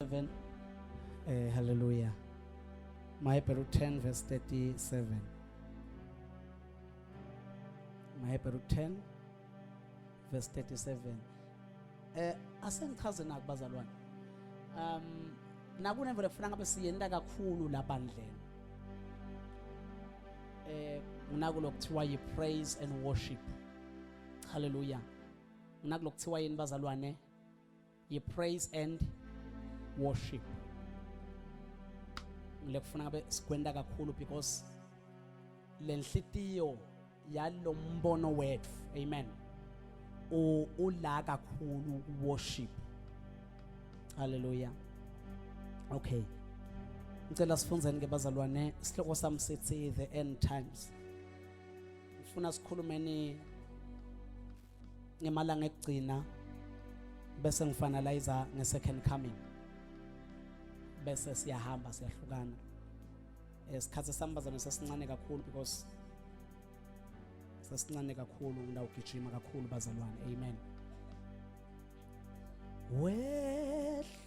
37 eh hallelujah Mahebheru 10 verse 37 Mahebheru 10 verse 37 eh asengichaze naku bazalwane um nakunemvelo kufanele ngabe siyenta kakhulu lapha ndleni eh nginakulo kuthiwa yi praise and worship hallelujah nginakulo kuthiwa yini bazalwane ye praise and worship lekufuna ngabe sikwenta kakhulu because lenhlitiyo yalombono wethu amen ula kakhulu worship haleluya okay ngicela sifunzeni ke bazalwane isihloko sami sithi the end times ngifuna sikhulumeni ngemalanga ekugcina bese ngifanaliza nge-second coming bese siyahamba siyahlukana isikhathi eh, sami bazame sesincane kakhulu because sesincane kakhulu ngidawugijima kakhulu bazalwane amen wehlukile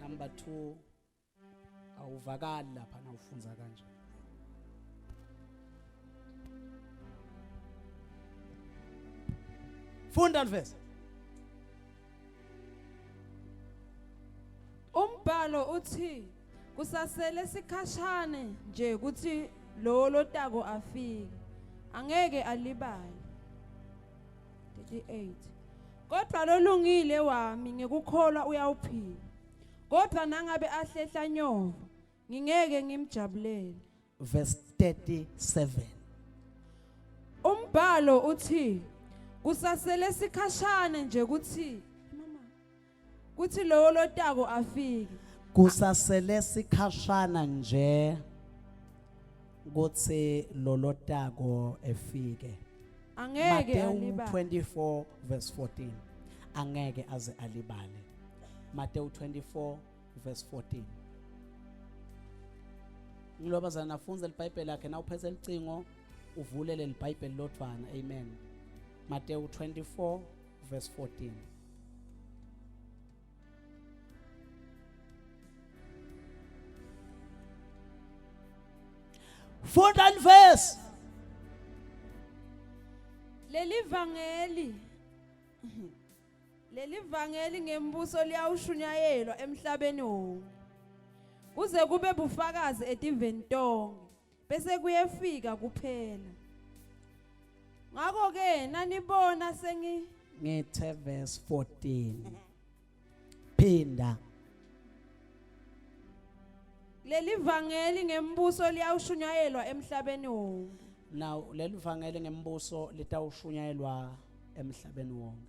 number 2 awuvakali lapha nawufunza kanje funda lvesa umbhalo uthi kusasele sikhashane nje ukuthi lo lotako afike angeke alibale 38 Kodwa lolungile wami ngikukholwa uyawuphila kodwa nangabe ahlehla nyova ngingeke ngimjabulele verse 37 umbhalo uthi kusasele sikhashana nje ukuthi kuthi lowo lotako afike kusasele sikhashana nje kuthi lolotako efike angeke Matewu alibale 24 verse 14 angeke aze alibale Matewu 24 verse 14 Ngilobazana nafunza libhayibheli lakhe na uphethe licingo uvulele libhayibheli lodvwana amen Matewu 24 verse 14. Fourth and verse. Leli vangeli leli vangeli ngembuso liyawushunyayelwa emhlabeni wonke kuze kube bufakazi etiveni tonke bese kuyefika kuphela ngakho ke nanibona sengi ngithe verse 14 phinda leli vangeli ngembuso liyawushunyayelwa emhlabeni wonke now leli vangeli ngembuso litawushunyayelwa emhlabeni wonke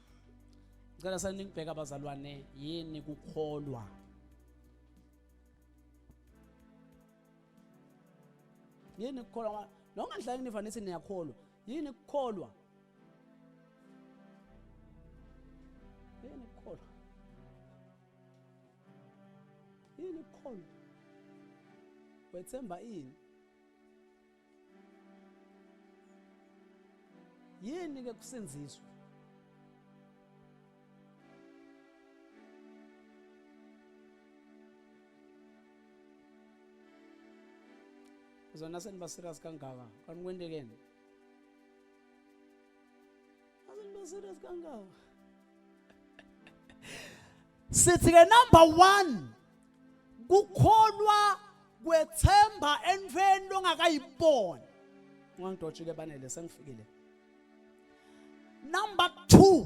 ngicela sanibheka abazalwane yini kukholwa yini kukholwa noma ngihlale niva nithi niyakholwa yini kukholwa yini kukholwa yini kukholwa wethemba ini yini ke kusenziswa zona seniba serious kangaka kanti kwendekeni Azinto serious kangaka. Sithi ke number 1 kukholwa kwethemba entweni longakayiboni. Ngangidotshile banele sengifikile. Number 2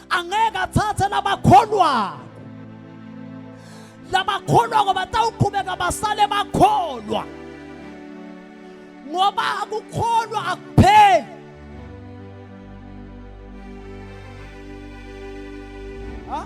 angeke athathe labakholwako labakholwako batawuqhubeka basale bakholwa ngoba akukholwa akupheli ha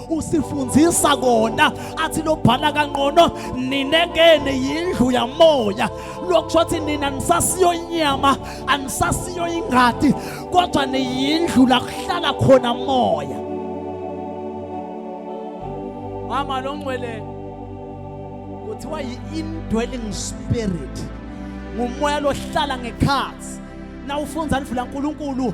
usifundisa kona athi lobhala kanqono ninekene yindlu yamoya lokusho ukuthi nina nisasiyo inyama anisasiyo ingadi kodwa niyindlu la kuhlala khona moya mama lo ngcwele kuthiwa yi-indwelling spirit ngumoya lohlala ngekhathi na ufunza ndlu lankulunkulu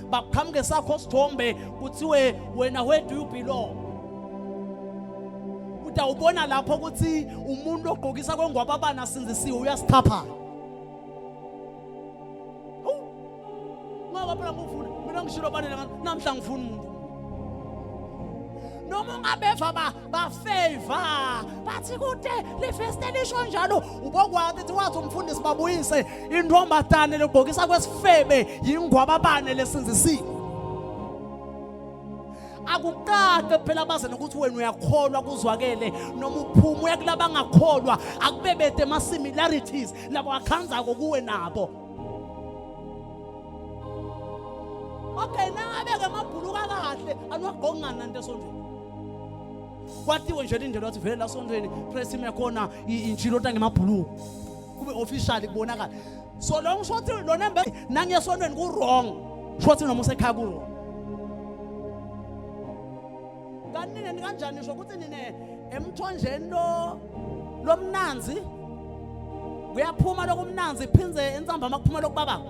bakuqhamuke sakho sithombe kuthiwe wena where do you belong utawubona lapho ukuthi umuntu ogqokisa kwengwaba abana sinzisiwe uyasithapha ngoba phela ngufuna mina ngishilo banele namhla ngifuna umuntu noma ungabeva ba bafavor bathi kude lifeste lisho njalo ubokwathi ukuthi wathi umfundisi babuyise intombazane lobhokisa kwesifebe yingwababane lesinzisiwe akuqaqe phela abaze nokuthi wena uyakholwa kuzwakele noma uphuma uya kulaba angakholwa akubebede ama-similarities labo akhanzako kuwe nabo okay nangabe-ke amabhuluka kahle anuwagqokungani nanto esondweni kwatiwe nje lindlela wathi vele la sontweni press team yakhona injilota ngemabhulu kube official kubonakala so lo ngisho ukuthi lona mbe nangiyasontweni ku wrong sho ukuthi noma usekhaya ku wrong kanti nini kanjani sho ukuthi nine emthonjeni lo lomnanzi kuyaphuma lokumnanzi phindze entsamba makuphuma lokubaba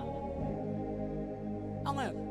angeke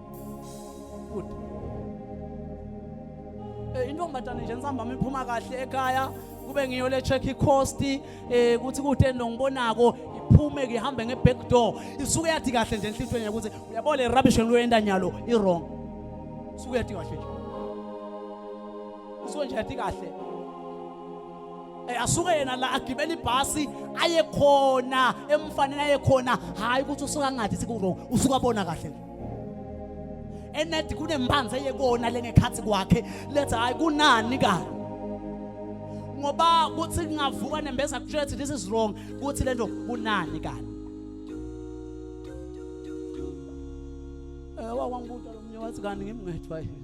good eh intombazane nje nisambama iphuma kahle ekhaya kube ngiyo le check icost eh ukuthi kutheni lo ngibonako iphume ke ihambe nge back door isuke yathi kahle nje enhlizweni ukuthi uyabo le rubbish ngiluyenda nyalo i wrong isuke yathi kahle nje isuke nje yathi kahle eh asuke yena la agibela ibhasi aye khona emfanele aye khona hayi ukuthi usuka ngathi siku wrong usuka bona kahle enethi kunembanzi eyekona lengekhathi kwakhe letha hayi kunani kani ngoba kuthi kungavuka nembeza kutshela ukuthi this is wrong kuthi lento kunani kani eh wawangibuta lo mnye wathi kanti ngimngethwa yini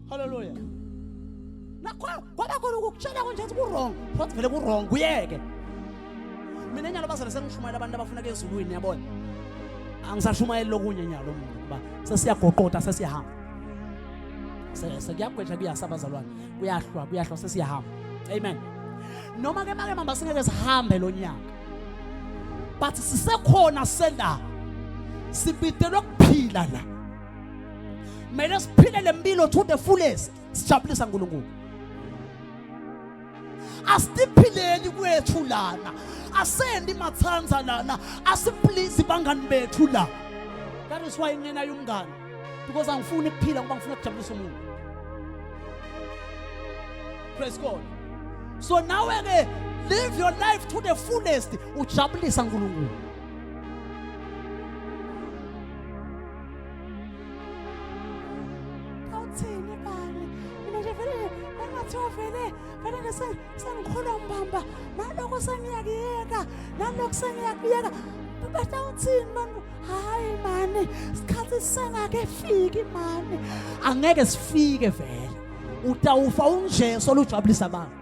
Hallelujah. Nakho kwaba khona ukukutshela konje ukuthi kurong, futhi vele kurong kuyeke. Mina nyalo bazale sengishumayela abantu abafuna kezulwini yabona. Angisashumayeli lokunye nyalo mina kuba sesiyagoqota sesiyahamba. Sekuyagwetha kuyasaba zalwane. Kuyahlwa kuyahlwa sesiyahamba. Amen. Noma ke make mama singeke sihambe lo nyaka. But sisekhona senda. Sibidelwe kuphila la. Kumele siphile lempilo to the fullest. Sijabulisa uNkulunkulu. Asiphileni kwethu lana. Asendi mathanza lana. Asiphilisi bangani bethu la. That is why ngena yomngani because angifuni ukuphila ngoba ngifuna ukujabulisa umuntu. Praise God. So now again, live your life to the fullest. Ujabulisa uNkulunkulu. Awuthini bani? Mina nje vele engathi ovele vele ke sengikholwa umbamba nalokho sengiyakuyeka nalokho sengiyakuyeka bata uthini manje hayi mani isikhathi sisengakefiki mani angeke sifike vele utawufa unjesu olujabulisa abantu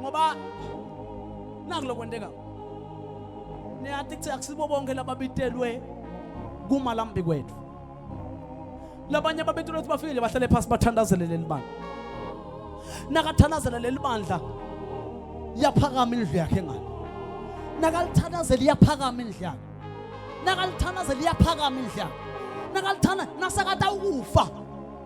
ngoba naku lokwenteka niyati kuthi akusibo bonke lababitelwe kumalambi kwethu labanye ababitelwe ukuthi bafikile bahlale phasi bathandazele leli bandla nakathandazela leli bandla yaphakama indlu yakhe ngani nakalithandazela iyaphakama indlu yakhe nakalithandazela iyaphakama indlu yakhe nakalithanda nasakata ukufa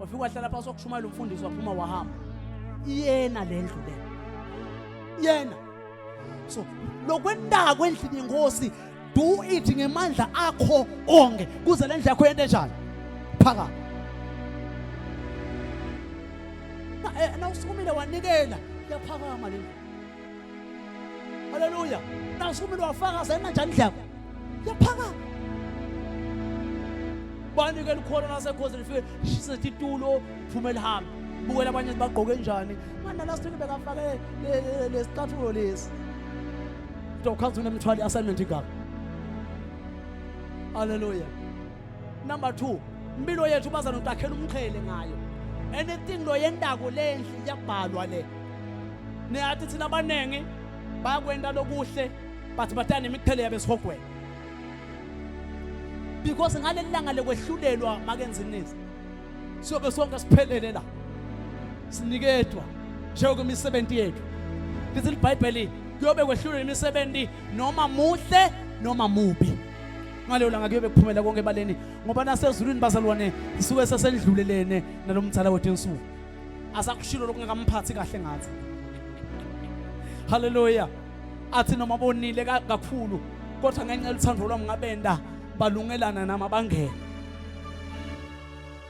wafika wahlala phansi wakushumayela umfundisi waphuma wahamba iyena le ndlu le yena so lokwenako endlini yenkosi do it ngemandla akho onke kuze le ndlu yakho yente njani phaka eh, na usukumile wanikela yaphakama le ndlu Haleluya. Na usukumile wafakaza yena njani ndleko? Yaphaka. Bani ke likhona lasekhosini lifike sithi tulo phuma lihambe. Bukela abanye bagqoke njani. Manje last week bekafake lesicathulo lesi. Dokhanzuna mthwali assignment igaba. Hallelujah. number 2 impilo yethu baza notakhela umqhele ngayo anything lo yendako lendli iyabhalwa le niyathi thina abaningi bayakwenda lokuhle but batana nemiqhele yabe sihogweni because ngaleli langa lekwehlulelwa makenzinisi siyobe sonke siphelele la sinikedwa njengoba imisebenzi yethu lithi libhayibheli kuyobe kwehlulelwa imisebenzi noma muhle noma mubi ngaleyo langa kuyobe kuphumela konke ebaleni ngoba nasezulwini bazalwane sisuke sesendlulelene nalo mdala wethu ensuku asakushilo lokungakamphathi kahle ngathi haleluya athi noma bonile kakhulu kodwa ngenxa yothando lwami ngabenda balungelana nami abangene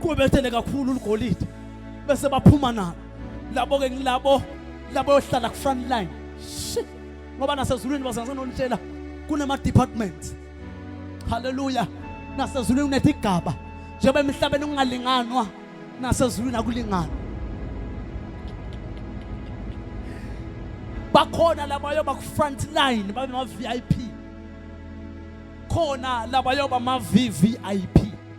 kubethene kakhulu uligolide bese baphuma nalo labo ke ngilabo labo yohlala ku front line shit ngoba nasezulwini bazange nonitshela kunama departments haleluya nasezulwini kunethi igaba njengoba emhlabeni kungalinganwa nasezulwini akulingani bakhona labayo baku front line babe ma VIP khona labayo bama VVIP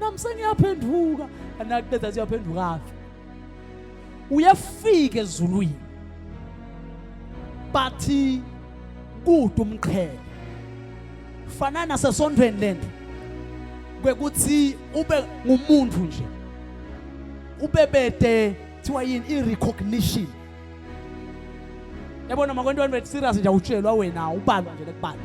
nami sengiyaphenduka anakubeza siyaphendukaphi uyafika ezulwini bathi kude umqhele fanana sesondweni lento kwekuthi ube ngumuntu nje ube bede kuthiwa yini i-recognition yabona makwentwana bethu serious nje awutshelwa wena ubalwa nje lekubalwa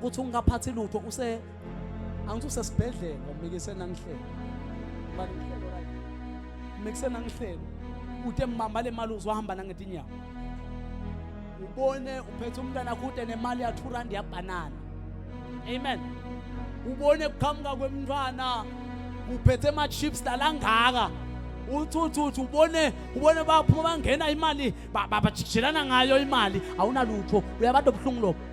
kuthi ungaphathi lutho use angithi usesibhedlela ngomikise nangihlelo bani ngihlelo right mikise nangihlelo ude mbamba le mali uzohamba nangetinyawo ubone uphethe umntana kude nemali ya 2 rand yabanana amen ubone kuqhamuka kwemntwana uphethe ama chips lalangaka uthuthuthi ubone ubone baphuma bangena imali bajijijelana ngayo imali awunalutho uyabade obuhlungu lobo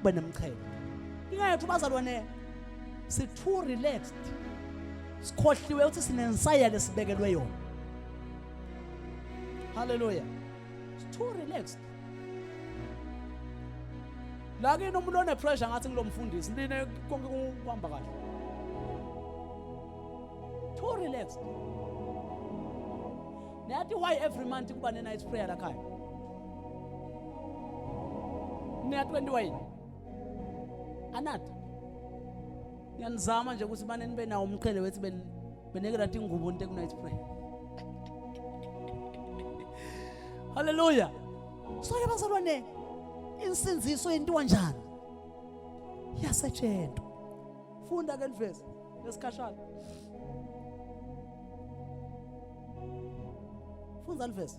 ube nemchele inga yethu bazalwane si too relaxed sikhohliwe ukuthi sinensaya lesibekelwe yona haleluya si too relaxed la kini umuntu one pressure ngathi ngilomfundisi nine konke kuhamba kahle too relaxed Nati why every month kuba ne night prayer la khaya Mina 21. Anata. Ngiyanizama nje ukuthi bane nibe nawo umqhele wethi ben beneke right ingubo into ekunight prayer. Hallelujah. So ke bazalwane insinziso yentiwa njani? Yasetshentwa. Funda ke niveze lesikhashana. Funda niveze.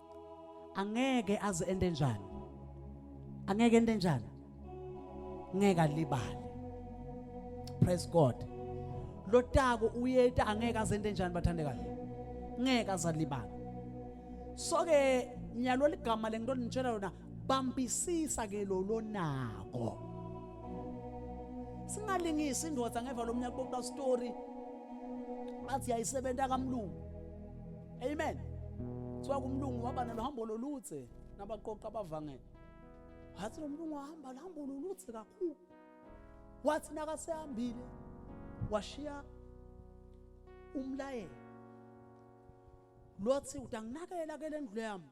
angeke aze ende njani angeke ende njani ngeke alibale praise god lotako uyeta angeke aze ende njani bathandekayo ngeke azalibala so ke nyalo ligama lengito nitshela yona bambisisa ke lo lonako singalingisi indoda ngeva lomnyaka bokuba story bathi yayisebenza kamlungu amen kuthiwa kumlungu waba noluhambo loludze nabaqoqa abavangele wathi lo mlungu wahamba luhambo loludze kakhulu wathi nakasehambile washiya umlayelo lothi utanginakela ke lendlu yami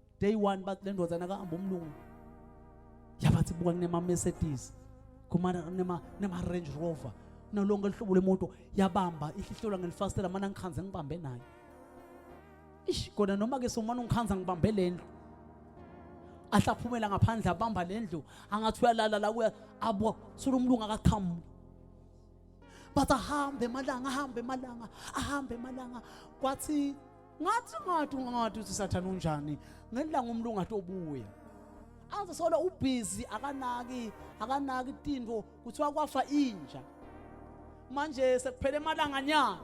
day one bathi le ndodana kahamba umlungu yabathi buka kunema-mercedes kunema-range rover nalonke luhlobo lwemoto yabamba ihlihlelwa ngelifasitela mana ngikhanze ngibambe nayo ish kona noma-ke somane ungikhanza ngibambe le ndlu ahlaphumela ngaphandle abamba le ndlu angathi uyalala la kuya abo sulo umlungu akaqhamuki bathi ahambe emalanga ahambe emalanga ahambe emalanga kwathi ngathi ngathi ngathi uthi sathane unjani ngelanga umlungu athi obuya aze solo ubhizi akanaki akanaki tinto kuthiwa kwafa inja manje sekuphele emalanga nyana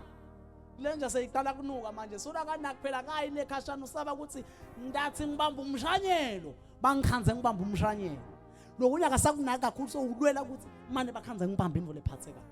lenja seyiqala kunuka manje solo akanaki phela kayi lekhashana usaba ukuthi ndathi ngibamba umshanyelo bangikhanze ngibamba umshanyelo lokunya akasakunaki kakhulu so ulwela ukuthi mane bakhanze ngibamba imvula ephathekayo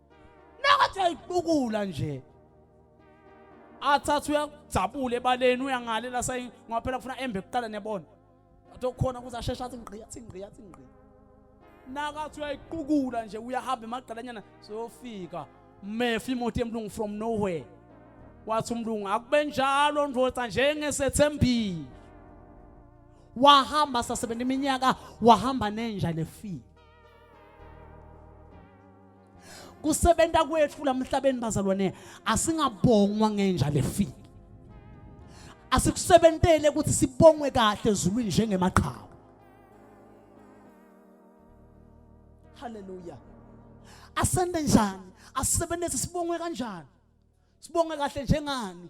Nakathi uyayibukula nje. Athatha uyakujabula ebaleni uyangale la sayi ngoba phela kufuna embe kuqala nebona. Athi okhona kuze asheshe athi ngqi athi ngqi athi ngqi. Nakathi uyayiqukula nje uyahamba emagqalanyana seyofika mefa imoto emlungu from nowhere. Wathi umlungu akube njalo ndoda njengesethembile. wahamba sasebenza iminyaka wahamba nenja nefile kusebenza kwethu lamhlabeni bazalwane asingabongwa ngenja lefile asikusebentele ukuthi sibongwe kahle ezulwini njengemaqhawe haleluya asende njani asisebenzise sibongwe kanjani sibonge kahle njengani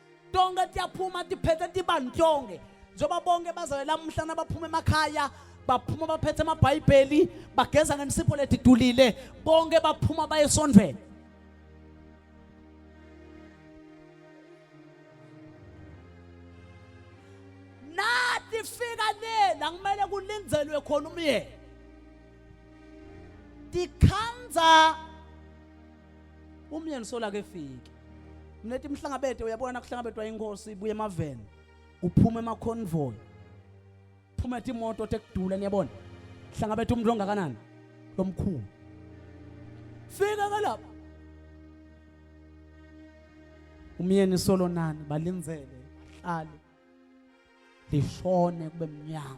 tonke tiyaphuma tiphethe tiba ntonke njengoba bonke bazale lamuhla nabaphuma emakhaya baphuma baphethe amabhayibheli bageza ngensipho letidulile bonke baphuma baye esondweni nathi fika lela kumele kulindelwe khona umyeni tikhandza Umyeni sola ke fike. Mneti mhlangabede uyabona kuhlangabedwa inkosi ibuye emaveni. Uphuma ema convoy. Phuma ethi imoto tekudula niyabona. Hlangabethe umuntu ongakanani? Lomkhulu. Fika ke lapha. Umyeni solo nani balinzele bahlale. Lishone kube mnyama.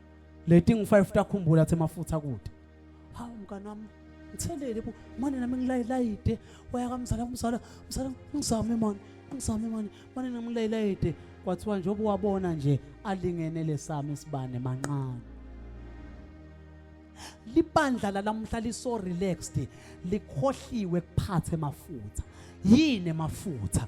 leti ngi-five takhumbula athe mafutha kude hawu mngani wami ngithelele bo mane nami ngilayilayide waya kamzala kumzala mzala ngizame mani ngizame mani mane nami ngilayilayide kwathiwa njengoba wabona nje alingene lesami isibane manqane libandla lalamuhla liso relaxed likhohliwe kuphathe mafutha yini mafutha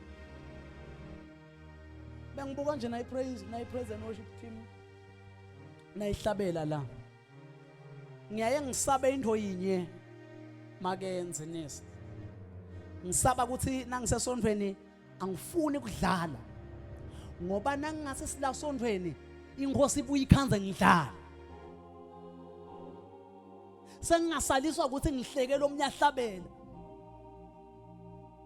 bengibuka nje nayi praise nayi praise and worship team nayihlabela la ngiyaye ngisabe into yinye makenze nesi ngisaba ukuthi nangisesondweni angifuni kudlala ngoba nangingase silasondweni inkosi ibuye ikhanze ngidlala sengingasaliswa ukuthi ngihlekele omnye ahlabele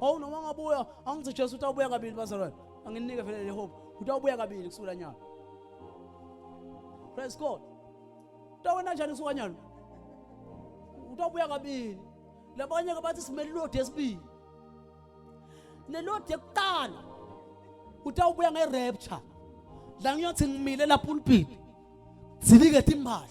Hawu noma angabuya, angithi Jesu utawubuya kabili bazalwane. Anginike vele le hope. Utawubuya kabili kusukela nyaka. Praise God. Utawona njani kusuka nyalo? Utawubuya kabili. Labanye ke bathi simele ilodi esibili. Nelodi yokuqala utawubuya nge-rapture la ngiyothi ngimile la pulpit zilike timbali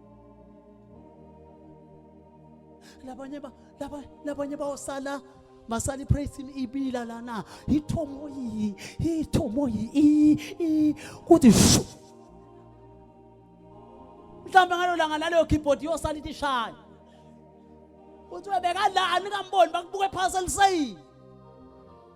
labanye ba labanye labanye bayosala masali praise him ibila lana ithomo yi ithomo yi i i kuthi shu mhlawumbe ngalo langa laleyo keyboard yosala ithi shaya uthi webeka la anikamboni bakubuke phansi elisayini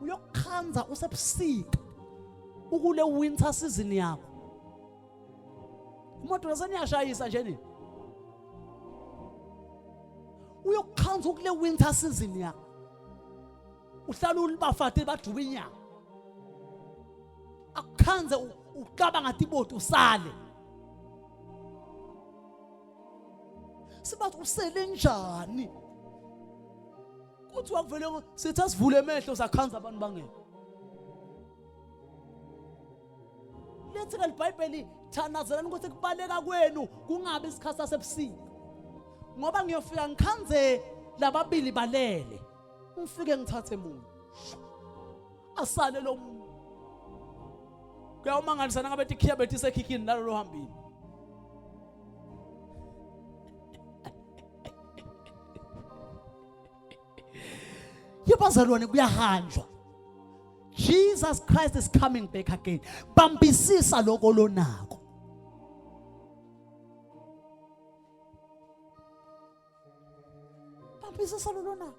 uyokukhanza usebusika ukule winter season yakho imoto naseniyashayisa nje nini uyokukhanza ukule winter season yakho uhlala ulibafate bajuba inyama akukhanze ucabanga ngathi iboti usale sibathi usele njani kuthi wakuvele sithi asivule emehlo sakhanza abantu bangeke lethi kalibhayibheli thanazelani ukuthi kubaleka kwenu kungabi isikhathi sasebusika ngoba ngiyofika ngikhanze lababili balele ngifike ngithathe muntu asale lo muntu kuyawamangalisa nangabe tikhiya betisekhikhini nalolo hambile yabazalwane kuyahanjwa Jesus Christ is coming back again bambisisa lokho lonako bambisisa lolonako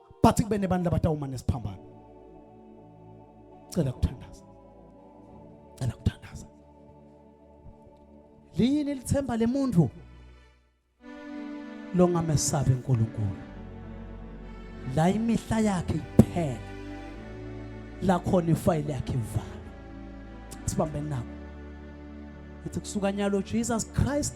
but kube nebantu labatawuma nesiphambano cela kuthandaza cela kuthandaza liyini lithemba lemuntu longamesabi uNkulunkulu la imihla yakhe iphela la khona ifayile yakhe ivala sibambe nabo ethi kusuka nyalo Jesus Christ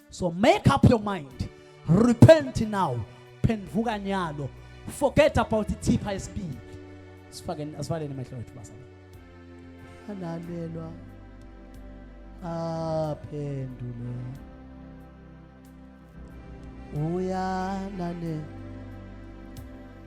So make up your mind. Repent now. Phenduka nyalo. Forget about ithipha esibili. Sifake asivaleni amehlo ethu basa. Alalelwa. Aphendule. Uyalalelwa.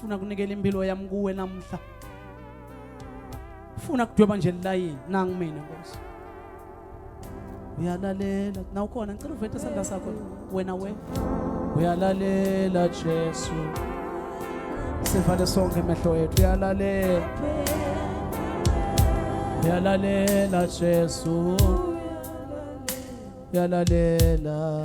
funa kunikela impilo yami kuwe namhla funa kudweba nje lilayini nangu mina nkosi uyalalela na ukhona ngicela uvete isandla sakho wena we uyalalela jesu sivale sonke emehlo ethu uyalalela uyalalela jesu uyalalela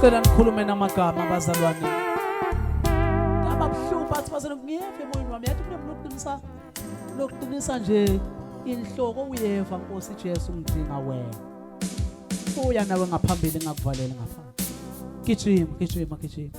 Cela nikhulume namagama abazalwane. Ngaba buhlungu bathi bazalwane ngiyeve emoyeni wami yathi kunemntu okuqinisa lokuqinisa nje inhloko uyeva Nkosi Jesu ngidinga wena. Uya nawe ngaphambili ngakuvalela ngapha. Gijima, gijima, gijima.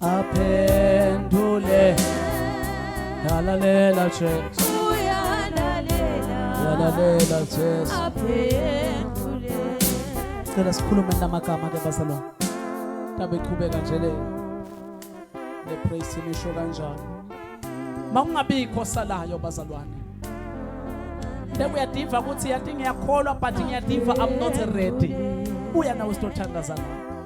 aphendule yalalela jesu yalalela jesu cela sikhulume namagama ke bazalwane tabe iqhubeka nje le le praise team isho kanjani makungabikho salayo bazalwane Ndeku yadiva ukuthi yathi ngiyakholwa but ngiyativa I'm not ready. Uya nawe sitothandazana.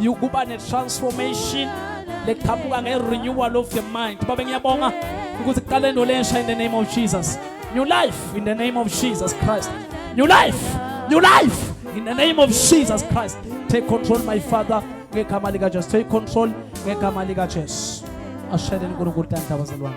yokuba ne-transformation leqhamuka nge-renewal of the mind babe ngiyabonga ukuthi kuqale into lensha in the name of jesus new life in the name of jesus christ new life new life in the name of jesus christ take control my father ngegama likajesu take control ngegama likajesu ashele nkulunkulu tanhla bazalwane